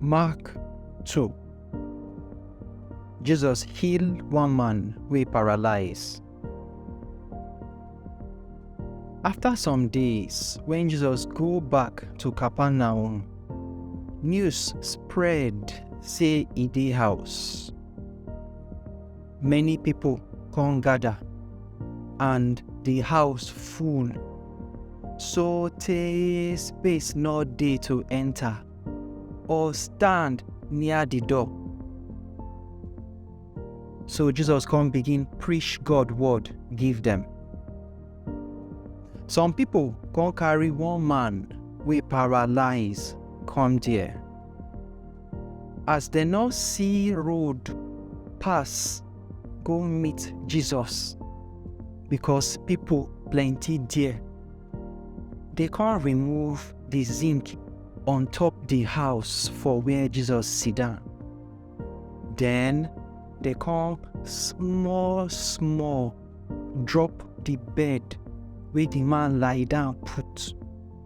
Mark 2 Jesus heal one man wey paralyze. After some days, when Jesus go back to Capernaum, news spread say e dey house. Many people come gather, and the house full. So tey space no dey to enter or stand near the door. So Jesus come begin preach God word give them. Some people come carry one man wey paralyze come there. as dem no see road pass go meet Jesus because people plenty there. They come remove the zinc on top the house for where Jesus sit down. Then they come small small drop the bed where the man lie down put.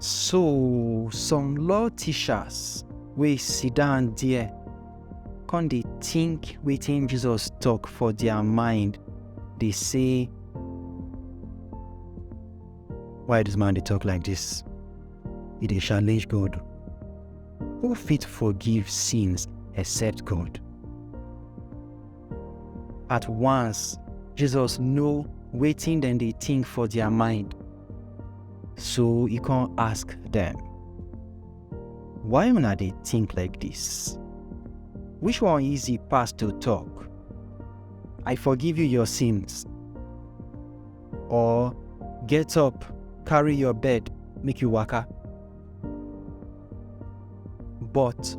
So some law teachers wey sit down there come dey think wetin Jesus talk for their mind dey say why this man dey talk like this e dey challenge God who fit forgive sins except God At once, Jesus know wetin dem dey think for their mind. So he come ask them, Why una dey think like this? Which one easy pass to talk? I forgive you your sins. Or get up, carry your bed, make you waka. But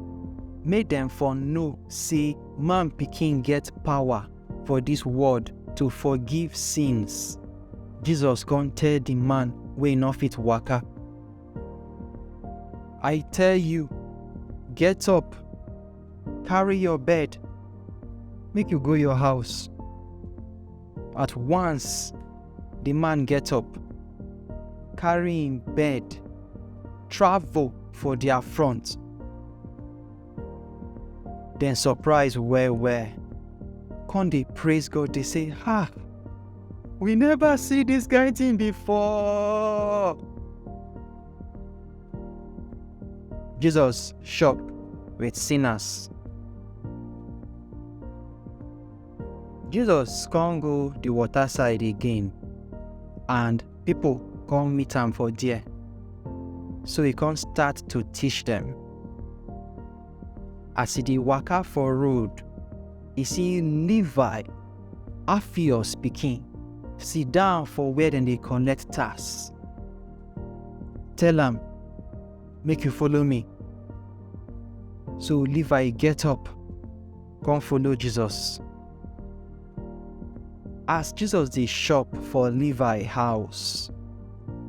make dem for know say man pikin get power for dis world to forgive sins. Jesus come tell di man wey no fit waka, I tell you, get up, carry your bed, make you go your house. At once, Di man get up, carry im bed, travel for dia front. Dem surprise well-well, con dey praise God dey say, Ha! We neva see dis kain tin before! Jesus shop wit sinners. Jesus come go the water side again and people come meet am for there. So he come start to teach them. As he dey waka for road, he see Levi, Alphaeus pikin, sit down for where dem dey collect tax. Tell am, make you follow me. So Levi get up come follow Jesus. As Jesus dey shop for Levi house,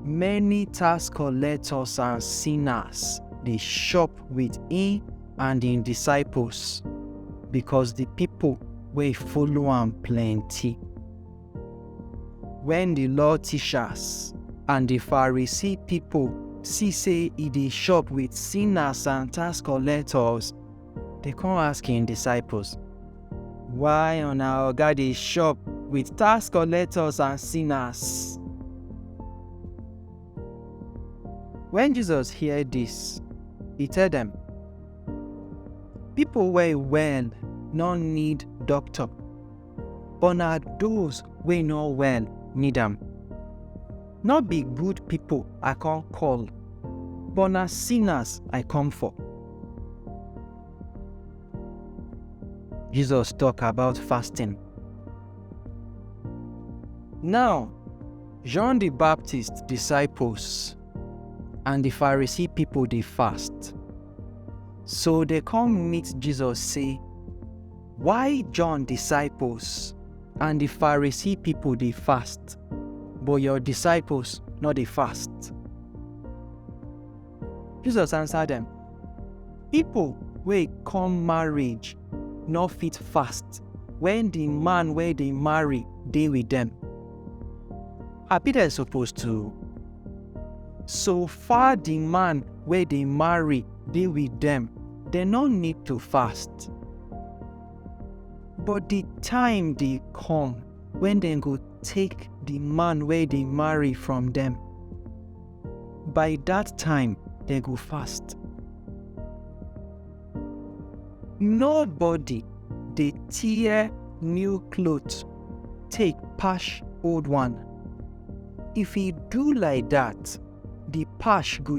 many tax collectors and sinners dey shop with him and him disciples because the people wey follow am plenty. When the law teachers and the Pharisee people see say e dey shop with sinners and tax collectors, Dey come ask im disciples, Why una oga dey chop with tax collectors and sinners? Wen Jesus hear dis, e tell dem, Pipo wey well no need doctor, but na those wey no well need am. No be good people I come call, but na sinners I come for. Jesus talk about fasting. Now, John the Baptist disciples and the Pharisee people dey fast. So they come meet Jesus say, Why John disciples and the Pharisee people they fast, but your disciples not they fast? Jesus answered them, People where come marriage not fit fast when the man where they marry they with them. I be there supposed to so far the man where they marry dey with dem, dem no need to fast. But di time dey come wen dem go take di man wey dey marry from dem. By dat time, dem go fast. Nobody dey tear new cloth take patch old one. If e do like dat, di patch go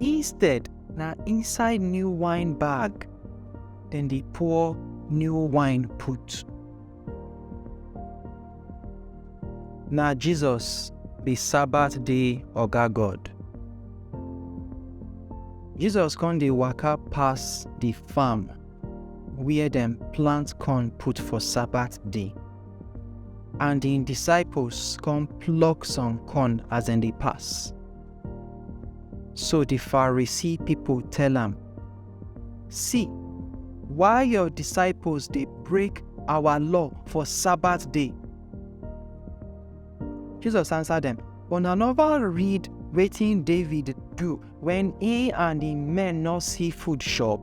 Instead, na inside new wine bag dem dey pour new wine put. Na Jesus be Sabbath day Oga God. Jesus come dey waka pass the farm where dem plant corn put for Sabbath day. And im disciples come pluck some corn as dem dey pass. So the Pharisee people tell am, See, why your disciples dey break our law for Sabbath day? Jesus answer dem, Una never read wetin David do when he and him men no see food chop?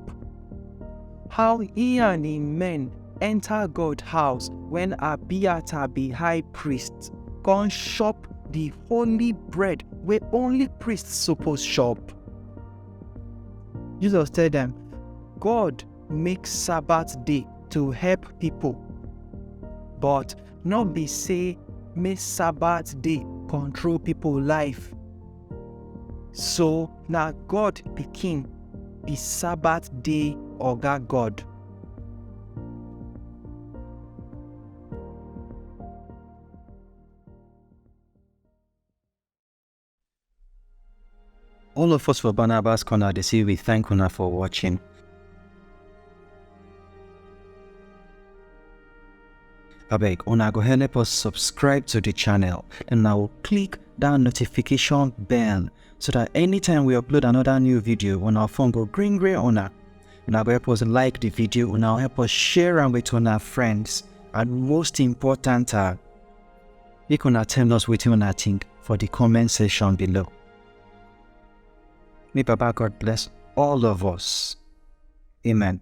How he and im men enter God house when Abiathar be high priest, come chop the holy bread wey only priest suppose chop. Jesus tell them, God make Sabbath day to help people, but not be say make Sabbath day control people life. So na God pikin be Sabbath day oga God. All of us for Barnabas Corner, they say we thank una for watching. abeg una go help us subscribe to the channel and now click that notification bell so that anytime we upload another new video on our phone go green green una una go help us like the video una help us share am with our friends and most important are uh, make una tell us wetin una think for the comment section below may baba god bless all of us amen